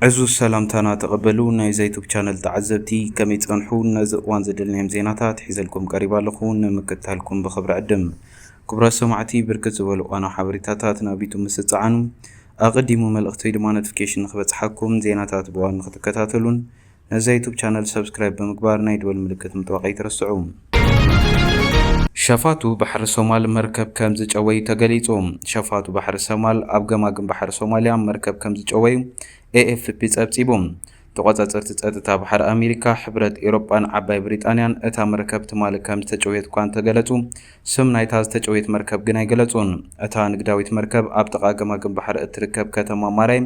ዕዙዝ ሰላምታና ተቐበሉ ናይዛ ዩቱብ ቻነል ተዓዘብቲ ከመይ ጸንሑ ነዚ እዋን ዘደልናዮም ዜናታት ሒዘልኩም ቀሪበ ኣለኹ ንምክትታልኩም ብኽብሪ ዕድም። ክቡራት ሰማዕቲ ብርክት ዝበሉ እዋናዊ ሓበሬታታት ናብ ዩቱብ ምስ ትጸዓኑ ኣቐዲሙ መልእኽቲ ወይ ድማ ኖቲፊኬሽን ንኽበጽሓኩም ዜናታት ብእዋኑ ንኽትከታተሉን ነዛ ዩቱብ ቻነል ሰብስክራይብ ብምግባር ናይ ደወል ምልክት ምጥዋቅ ኣይትረስዑ። ሸፋቱ ባሕሪ ሶማል መርከብ ከም ዝጨወዩ ተገሊጹ ሸፋቱ ባሕሪ ሰማል ኣብ ገማግም ባሕሪ ሶማልያ መርከብ ከም ዝጨወዩ ኤኤፍፒ ጸብጺቡ። ተቖጻጸርቲ ጸጥታ ባሕሪ ኣሜሪካ፣ ሕብረት ኤሮጳን ዓባይ ብሪጣንያን እታ መርከብ ትማሊ ከም ዝተጨውየት'ኳ እንተገለጹ፣ ስም ናይታ ዝተጨውየት መርከብ ግን ኣይገለጹን። እታ ንግዳዊት መርከብ ኣብ ጥቓ ገማግም ባሕሪ እትርከብ ከተማ ማራይ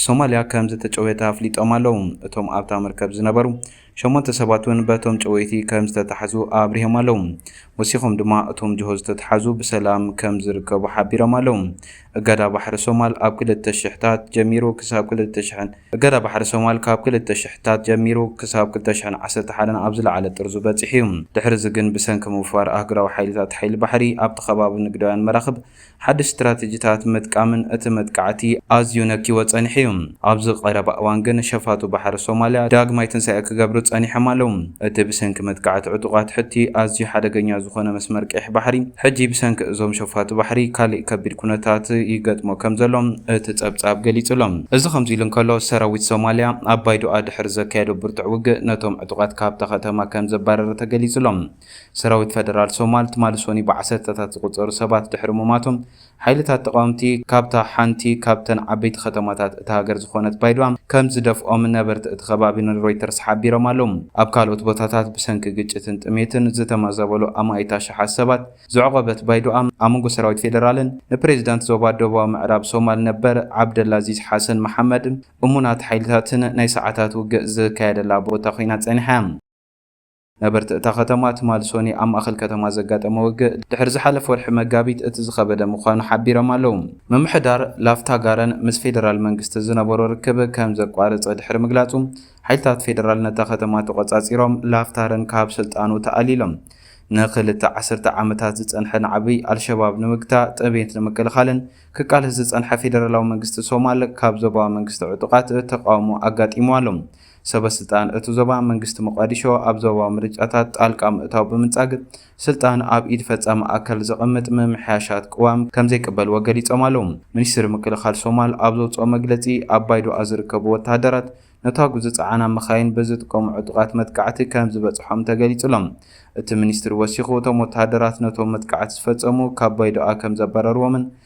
ሶማልያ ከምዝተጨውየታ ኣፍሊጦም ኣለው። እቶም ኣብታ መርከብ ዝነበሩ ሸሞንተ ሰባት እውን በቶም ጨወይቲ ከምዝተታሕዙ ኣብሪሆም ኣለው። ወሲኾም ድማ እቶም ጅሆ ዝተትሓዙ ብሰላም ከምዝርከቡ ሓቢሮም ኣለው። እገዳ ባሕሪ ሶማል ኣብ ክልተ ሽሕታት ጀሚሩ ክሳብ ክልተ ሽሕን እገዳ ባሕሪ ሶማል ካብ ክልተ ሽሕታት ጀሚሩ ክሳብ ክልተ ሽሕን ዓሰርተ ሓደን ኣብ ዝለዓለ ጥርዙ በጺሑ እዩ። ድሕሪ'ዚ ግን ብሰንኪ ምውፋር ኣህጉራዊ ሓይልታት ሓይሊ ባሕሪ ኣብቲ ከባቢ ንግዳውያን መራኽብ ሓድሽ ስትራተጂታት ምጥቃምን እቲ መጥቃዕቲ ኣዝዩ ነክይዎ ጸኒሑ እዩ። ኣብዚ ቀረባ እዋን ግን ሸፋቱ ባሕሪ ሶማልያ ዳግማይ ትንሳኤ ክገብሩ ጸኒሖም ኣለዉ። እቲ ብሰንኪ መጥቃዕቲ ዕጡቓት ሑቲ ኣዝዩ ሓደገኛ ዝኾነ መስመር ቀይሕ ባሕሪ፣ ሕጂ ብሰንኪ እዞም ሸፋቱ ባሕሪ ካልእ ከቢድ ኩነታት ይገጥሞ ከምዘሎ እቲ ጸብጻብ ገሊጹ ኣሎ። እዚ ከምዚ ኢሉ እንከሎ፣ ሰራዊት ሶማልያ ኣብ ባይዶኣ ድሕሪ ዘካየዶ ብርቱዕ ውግእ ነቶም ዕጡቓት ካብታ ከተማ ከምዘባረረ ተገሊጹ ኣሎ። ሰራዊት ፈደራል ሶማል ትማሊ ሶኑይ ብዓሰርተታት ዝቑጸሩ ሰባት ድሕሪ ሙማቶም፣ ሓይልታት ተቓወምቲ ካብታ ሓንቲ ካብተን ዓበይቲ ከተማታት እታ ሃገር ዝኾነት ባይዶዋ ከም ዝደፍኦም ነበርቲ እቲ ከባቢ ንሮይተርስ ሓቢሮም ኣለዉ። ኣብ ካልኦት ቦታታት ብሰንኪ ግጭትን ጥሜትን ዝተመዛበሉ ኣማኢት ኣሽሓት ሰባት ዘዕቖበት ባይዶዋ፣ ኣብ መንጎ ሰራዊት ፌደራልን ንፕሬዚዳንት ዞባ ደቡባዊ ምዕራብ ሶማል ነበር ዓብደላዚዝ ሓሰን መሓመድ እሙናት ሓይልታትን ናይ ሰዓታት ውግእ ዝካየደላ ቦታ ኮይና ጸኒሓ እያ። ነበርቲ እታ ከተማ ትማል ሶኒ ኣብ ማእኸል ከተማ ዘጋጠመ ውግእ ድሕሪ ዝሓለፈ ወርሒ መጋቢት እቲ ዝኸበደ ምዃኑ ሓቢሮም ኣለው። ምምሕዳር ላፍታ ጋረን ምስ ፌደራል መንግስቲ ዝነበሮ ርክብ ከም ዘቋረፀ ድሕሪ ምግላፁ ሓይልታት ፌደራል ነታ ከተማ ተቖፃፂሮም ላፍታርን ካብ ስልጣኑ ተኣሊሎም። ንክልተ ዓሰርተ ዓመታት ዝፀንሐ ናዕቢ ኣልሸባብ ንምግታእ ጥሜት ንምክልኻልን ክቃለስ ዝፀንሐ ፌደራላዊ መንግስቲ ሶማል ካብ ዞባዊ መንግስቲ ዕጡቓት ተቓውሞ ኣጋጢምዎ ኣሎ። ሰበስልጣን እቲ ዞባ፣ መንግስቲ ሞቓዲሾ ኣብ ዞባዊ ምርጫታት ጣልቃ ምእታው ብምንጻግ፣ ስልጣን ኣብ ኢድ ፈጻሚ ኣካል ዘቐምጥ ምምሕያሻት ቅዋም ከምዘይቅበልዎ ገሊጾም ኣለዉ። ሚኒስትሪ ምክልኻል ሶማል ኣብ ዘውጽኦ መግለጺ፣ ኣብ ባይዶኣ ዝርከቡ ወተሃደራት፣ ነታጕ ዝጸዓና መካይን ብዝጥቀሙ ዕጡቓት መጥቃዕቲ ከምዝበጽሖም ተገሊጹ'ሎ። እቲ ሚኒስትሪ ወሲኹ፣ እቶም ወተሃደራት ነቶም መጥቃዕቲ ዝፈጸሙ ካብ ባይዶኣ ከምዘባረርዎምን፣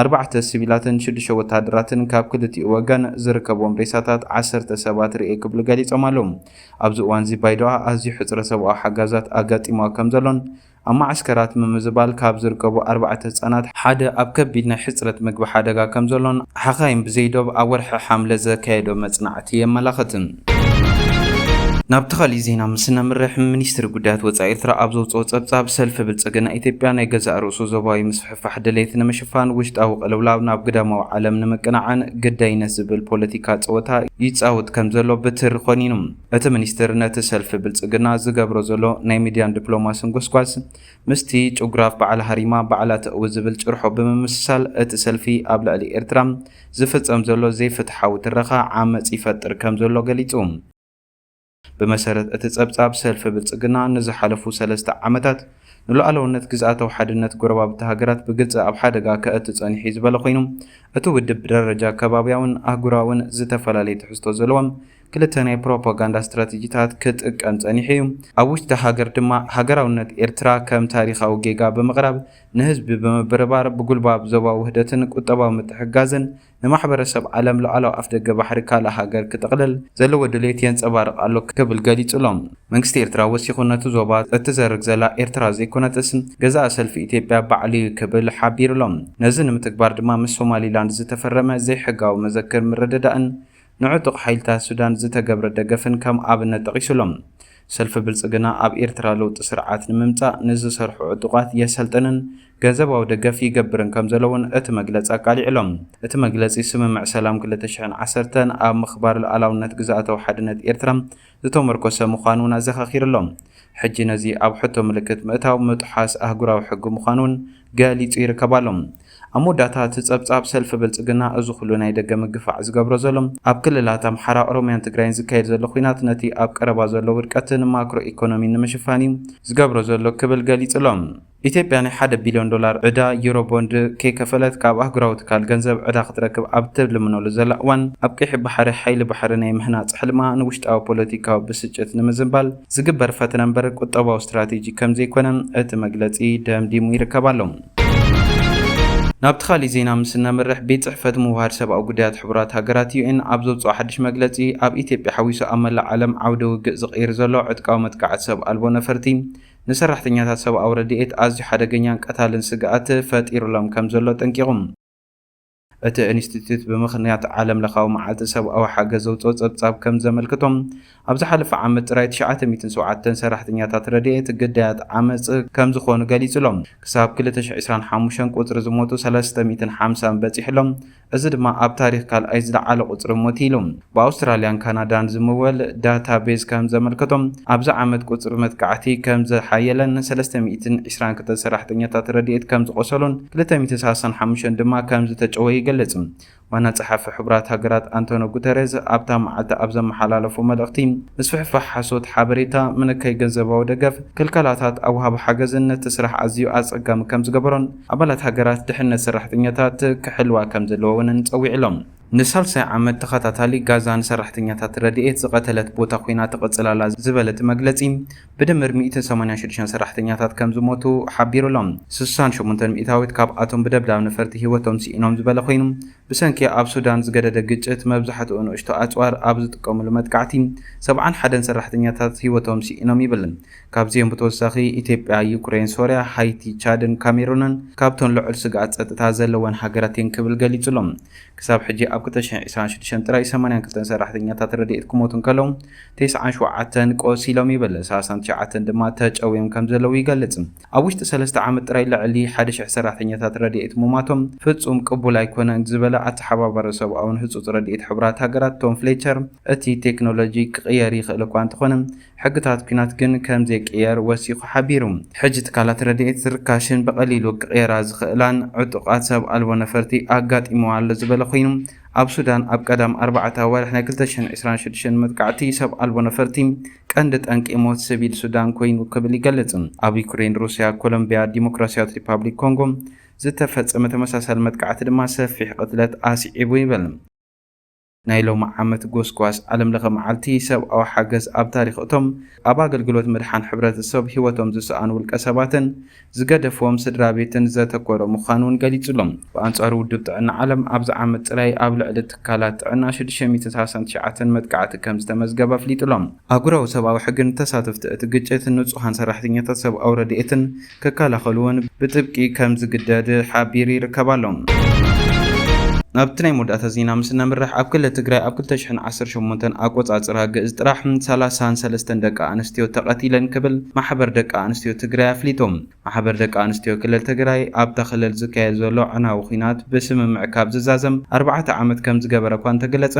ኣርባዕተ ሲቪላትን ሽዱሽተ ወተሃደራትን ካብ ክልቲኡ ወገን ዝርከብዎም ሬሳታት ዓሰርተ ሰባት ርእየ ክብሉ ገሊጾም ኣለው። ኣብዚ እዋንዚ ባይዶኣ ኣዝዩ ሕጽረት ሰብኣዊ ሓጋዛት ኣጋጢምዋ ከምዘሎን ኣብ መዓስከራት ምምዝባል ካብ ዝርከቡ ኣርባዕተ ህጻናት ሓደ ኣብ ከቢድ ናይ ሕጽረት ምግቢ ሓደጋ ከምዘሎን ሓኻይም ብዘይ ዶብ ኣብ ወርሒ ሓምለ ዘካየዶ መጽናዕቲ የመላኽት። ናብቲ ካሊእ ዜና ምስ እነምርሕ፣ ሚኒስትሪ ጉዳያት ወጻኢ ኤርትራ ኣብ ዘውጽኦ ጸብጻብ፣ ሰልፊ ብልጽግና ኢትዮጵያ ናይ ገዛእ ርእሱ ዞባዊ ምስፍሕፋሕ፣ ፋሕ ድሌት ንምሽፋን ውሽጣዊ ቅልውላው ናብ ግዳማዊ ዓለም ንምቅናዕን ግዳይነት ዝብል ፖለቲካ ጸወታ ይጻውት ከም ዘሎ ብትሪ ኮኒኑ። እቲ ሚኒስትር ነቲ ሰልፊ ብልጽግና ዝገብሮ ዘሎ ናይ ሚድያን ድፕሎማስን ጎስጓስ ምስቲ ጭጉራፍ በዓል ሃሪማ ባዕላ ተእዊ ዝብል ጭርሖ ብምምስሳል እቲ ሰልፊ ኣብ ልዕሊ ኤርትራ ዝፍጸም ዘሎ ዘይፍትሓዊ ትረኻ ዓመጽ ይፈጥር ከም ዘሎ ገሊጹ። ብመሰረት እቲ ፀብፃብ ሰልፊ ብልፅግና ንዝሓለፉ ሰለስተ ዓመታት ንሉኣላውነት ግዝኣታዊ ሓድነት ጎረባብቲ ሃገራት ብግልፂ ኣብ ሓደጋ ከእቱ ፀኒሑ እዩ ዝበለ ኮይኑ እቲ ውድብ ብደረጃ ከባብያውን ኣህጉራውን ዝተፈላለዩ ትሕዝቶ ዘለዎም ክልተ ናይ ፕሮፓጋንዳ ስትራቴጂታት ክጥቀም ፀኒሑ እዩ። ኣብ ውሽጢ ሃገር ድማ ሃገራውነት ኤርትራ ከም ታሪኻዊ ጌጋ ብምቕራብ ንህዝቢ ብምብርባር ብጉልባብ ዞባዊ ውህደትን ቁጠባዊ ምትሕግጋዝን ንማሕበረሰብ ዓለም ሉዓላዊ ኣፍደገ ባሕሪ ካልእ ሃገር ክጥቕልል ዘለዎ ድሌት የንጸባርቕ ኣሎ ክብል ገሊጹ'ሎ። መንግስቲ ኤርትራ ወሲኹ ነቲ ዞባ እትዘርግ ዘላ ኤርትራ ዘይኮነትስ ገዛኢ ሰልፊ ኢትዮጵያ ባዕሉ'ዩ ክብል ሓቢሩ'ሎ። ነዚ ንምትግባር ድማ ምስ ሶማሊላንድ ዝተፈረመ ዘይሕጋዊ መዘክር ምርድዳእን ንዕጡቕ ሓይልታት ሱዳን ዝተገብረ ደገፍን ከም ኣብነት ጠቒሱ'ሎም። ሰልፊ ብልጽግና ኣብ ኤርትራ ለውጢ ስርዓት ንምምጻእ ንዝሰርሑ ዕጡቓት የሰልጥንን ገንዘባዊ ደገፍ ይገብርን ከም ዘሎ'ውን እቲ መግለጺ ኣቃሊዑ'ሎም። እቲ መግለጺ ስምምዕ ሰላም ክልተ ሽሕን ዓሰርተን ኣብ ምኽባር ልኣላውነት ግዝኣታዊ ሓድነት ኤርትራ ዝተመርኮሰ ምዃኑ እውን ኣዘኻኺሩ ኣሎ። ሕጂ ነዚ ኣብ ሕቶ ምልክት ምእታው ምጥሓስ ኣህጉራዊ ሕጊ ምዃኑ እውን ገሊጹ ይርከብ ኣሎ። ኣብ መወዳእታ እቲ ጸብጻብ፣ ሰልፊ ብልጽግና እዚ ኩሉ ናይ ደገ ምግፋዕ ዝገብሮ ዘሎ፣ ኣብ ክልላት ኣምሓራ፣ ኦሮምያን ትግራይን ዝካየድ ዘሎ ኲናት ነቲ ኣብ ቀረባ ዘሎ ውድቀትን ማክሮ ኢኮኖሚን ንምሽፋን እዩ ዝገብሮ ዘሎ ክብል ገሊጹ ኣሎ። ኢትዮጵያ ናይ ሓደ ቢልዮን ዶላር ዕዳ ዩሮ ቦንድ ከይከፈለት ካብ ኣህጉራዊ ትካል ገንዘብ ዕዳ ክትረክብ ኣብ እትልምነሉ ዘላ እዋን፣ ኣብ ቀይሕ ባሕሪ ሓይሊ ባሕሪ ናይ ምህናጽ ሕልማ ንውሽጣዊ ፖለቲካዊ ብስጭት ንምዝንባል ዝግበር ፈተነ እምበር ቁጠባዊ ስትራቴጂ ከምዘይኮነ እቲ መግለጺ ደምዲሙ ይርከብ ኣሎ። ናብቲ ካሊእ ዜና ምስ እነምርሕ፣ ቤት ጽሕፈት ምውህሃድ ሰብኣዊ ጉዳያት ሕቡራት ሃገራት፣ UN፣ ኣብ ዘውጽኦ ሓድሽ መግለጺ፣ ኣብ ኢትዮጵያ ሓዊሱ ኣብ መላእ ዓለም ዓውደ ውግእ ዝቕይር ዘሎ ዕጥቃዊ መጥቃዕቲ ሰብ ኣልቦ ነፈርቲ፣ ንሰራሕተኛታት ሰብኣዊ ረድኤት ኣዝዩ ሓደገኛን ቀታልን ስግኣት ፈጢሩሎም ከምዘሎ ኣጠንቂቑ። እቲ ኢንስቲትዩት ብምኽንያት ዓለምለኻዊ መዓልቲ ሰብኣዊ ሓገዝ ዘውጽኦ ጸብጻብ ከም ዘመልክቶ፣ ኣብ ዝሓለፈ ዓመት ጥራይ ትሽዓተ ሚእትን ሸውዓተን ሰራሕተኛታት ረድኤት ግዳያት ዓመጽ ከምዝኾኑ ገሊጹ'ሎ። ክሳብ ክልተ ሽሕ ዕስራን ሓሙሽተን ቁጽሪ ዝሞቱ ሰለስተ ሚእትን ሓምሳን በጺሑ'ሎ። እዚ ድማ ኣብ ታሪኽ ካልኣይ ዝለዓለ ቁጽሪ ሞት ኢሉ። ብኣውስትራልያን ካናዳን ዝምወል ዳታ ቤዝ ከም ዘመልከቶ፣ ኣብዚ ዓመት ቁጽሪ መጥቃዕቲ ከም ዝሓየለን ሰለስተ ሚእትን ዕስራን ክልተ ሰራሕተኛታት ረድኤት ከም ዝቖሰሉን ክልተ ሚእትን ሰላሳን ሓሙሽተን ድማ ከም ዝተጨወዩ ይገልጽ። ዋና ጸሓፊ ሕቡራት ሃገራት ኣንቶንዮ ጉተሬዝ ኣብታ መዓልቲ ኣብ ዘመሓላለፎ መልእኽቲ፣ ምስፍሕፋሕ ሓሶት ሓበሬታ፣ ምንካይ ገንዘባዊ ደገፍ፣ ክልከላታት ኣብ ወሃቢ ሓገዝን ነቲ ስራሕ ኣዝዩ ኣጸጋሚ ከም ዝገበሮን፣ ኣባላት ሃገራት ድሕነት ሰራሕተኛታት ክሕልዋ ከምዘለወወንን ጸዊዕሎም። ንሳልሳይ ዓመት ተኸታታሊ ጋዛ ንሰራሕተኛታት ረድኤት ዝቐተለት ቦታ ኮይና ትቕጽል ኣላ ዝበለ እቲ መግለጺ፣ ብድምር ሚእትን ሰማንያን ሽዱሽተን ሰራሕተኛታት ከምዝሞቱ ሓቢሩ'ሎ። ስሳን ሸሞንተን ሚእታዊት ካብኣቶም ብደብዳብ ነፈርቲ ህይወቶም ስኢኖም ዝበለ ኮይኑ፣ ብሰንኪ ኣብ ሱዳን ዝገደደ ግጭት መብዛሕትኡ ንእሽቶ ኣጽዋር ኣብ ዝጥቀሙሉ መጥቃዕቲ ሰብዓን ሓደን ሰራሕተኛታት ህይወቶም ስኢኖም ይብል። ካብዚኦም ብተወሳኺ ኢትዮጵያ፣ ዩክሬን፣ ሶርያ፣ ሃይቲ፣ ቻድን ካሜሩንን ካብተን ልዑል ስግኣት ጸጥታ ዘለወን ሃገራት እየን ክብል ገሊጹ ኣሎ። ክሳብ ሕጂ ኣብ ክልተ ሽሕን ዕስራን ሽዱሽተን ጥራይ ሰማንያን ክልተን ሰራሕተኛታት ረድኤት ክሞቱ እንከለዉ ተስዓን ሸውዓተን ቆሲሎም ይብል፣ ሰላሳን ትሽዓተን ድማ ተጨውዮም ከምዘለዉ ይገልጽ። ኣብ ውሽጢ ሰለስተ ዓመት ጥራይ ልዕሊ ሓደ ሽሕ ሰራሕተኛታት ረድኤት ምሟቶም ፍጹም ቅቡል ኣይኮነን ዝበለ ኣተሓባባሪ ሰብኣውን ህጹጽ ረድኤት ሕቡራት ሃገራት ቶም ፍሌቸር እቲ ቴክኖሎጂ ክቕየር ይኽእል እኳ እንተኾነ ሕግታት ኲናት ግን ከም ዘይቅየር ወሲኹ ሓቢሩ። ሕጂ ትካላት ረድኤት ዝርካሽን ብቐሊሉ ክቕየራ ዝኽእላን ዕጡቓት ሰብ ኣልቦ ነፈርቲ ኣጋጢምዋ ኣሎ ዝበለ ኮይኑ፣ ኣብ ሱዳን ኣብ ቀዳም ኣርባዕተ ኣዋርሕ ናይ ክልተ ሽሕን ዕስራን ሽዱሽተን መጥቃዕቲ ሰብ ኣልቦ ነፈርቲ ቀንዲ ጠንቂ ሞት ስቪል ሱዳን ኮይኑ ክብል ይገልጽ። ኣብ ዩክሬን፣ ሩስያ፣ ኮሎምብያ፣ ዲሞክራስያዊት ሪፓብሊክ ኮንጎ ዝተፈጸመ ተመሳሳሊ መጥቃዕቲ ድማ ሰፊሕ ቅትለት ኣስዒቡ ይብል። ናይ ሎሚ ዓመት ጎስጓስ ዓለም ለኸ መዓልቲ ሰብኣዊ ሓገዝ ኣብ ታሪኽ እቶም ኣብ ኣገልግሎት ምድሓን ሕብረተሰብ ህይወቶም ዝሰኣኑ ውልቀ ሰባትን ዝገደፍዎም ስድራ ቤትን ዘተኮረ ምዃኑ እውን ገሊጹ'ሎ። ብኣንጻሩ ውድብ ጥዕና ዓለም ኣብዚ ዓመት ጥራይ ኣብ ልዕሊ ትካላት ጥዕና ሽዱሽተ ሚእትን ሰላሳን ትሽዓተን መጥቃዕቲ ከም ዝተመዝገበ ኣፍሊጡ'ሎ። ኣህጉራዊ ሰብኣዊ ሕግን ተሳተፍቲ እቲ ግጭት ንጹሃን ሰራሕተኛታት ሰብኣዊ ረድኤትን ክከላኸሉ'ውን ብጥብቂ ከም ዝግደድ ሓቢሩ ይርከብ ኣሎ። ናብቲ ናይ መወዳእታ ዜና ምስ እነምርሕ፣ ኣብ ክልል ትግራይ ኣብ ክልተ ሽሕን ዓሰርተ ሸሞንተን ኣቆጻጽራ ግእዝ ጥራሕ ሰላሳን ሰለስተን ደቂ ኣንስትዮ ተቐቲለን ክብል ማሕበር ደቂ ኣንስትዮ ትግራይ ኣፍሊጡ። ማሕበር ደቂ ኣንስትዮ ክልል ትግራይ ኣብታ ክልል ዝካየድ ዘሎ ኣዕናዊ ኲናት ብስምምዕ ካብ ዝዛዘም ኣርባዕተ ዓመት ከም ዝገበረ'ኳ እንተገለጸ፣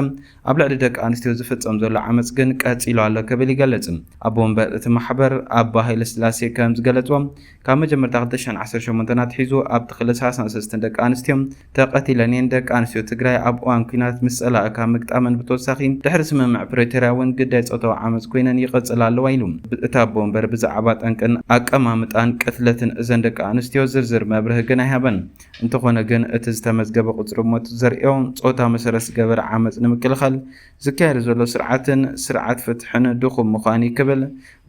ኣብ ልዕሊ ደቂ ኣንስትዮ ዝፍጸም ዘሎ ዓመጽ ግን ቀጺሉ ኣሎ ክብል ይገልጽ። ኣቦ ወንበር እቲ ማሕበር ኣባ ሃይለስላሴ ከም ዝገለጽዎ፣ ካብ መጀመርታ ክልተ ሽሕን ዓሰርተ ሸሞንተን ኣትሒዙ ኣብቲ ክልል ሰላሳን ሰለስተን ደቂ ኣንስትዮ ተቐቲለን እየን። ደቂ ኣንስትዮ ትግራይ ኣብ እዋን ኲናት ምስ ጸላኢ ካብ ምግጣመን ብተወሳኺ ድሕሪ ስምምዕ ፕሪቶርያ እውን ግዳይ ጾታዊ ዓመጽ ኰይነን ይቕጽላ ኣለዋ ኢሉ። እቲ ኣቦ ወንበር ብዛዕባ ጠንቅን ኣቀማምጣን ቅትለትን እዘን ደቂ ኣንስትዮ ዝርዝር መብርሂ ግን ኣይሃበን። እንተኾነ ግን እቲ ዝተመዝገበ ቁፅሪ ሞት ዘርእዮ ፆታ መሰረት ዝገበረ ዓመፅ ንምክልኻል ዝካየድ ዘሎ ስርዓትን ስርዓት ፍትሕን ድኹም ምዃን እዩ ክብል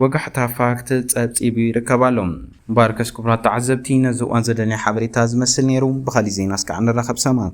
ወጋሕታ ፋክት ፀብፂቡ ይርከብ ኣሎ። እምበኣርከስ ክቡራት ተዓዘብቲ ነዚ እዋን ዘደለና ሓበሬታ ዝመስል ነይሩ። ብኻሊእ ዜና እስካዕ ንራኸብ ሰማም።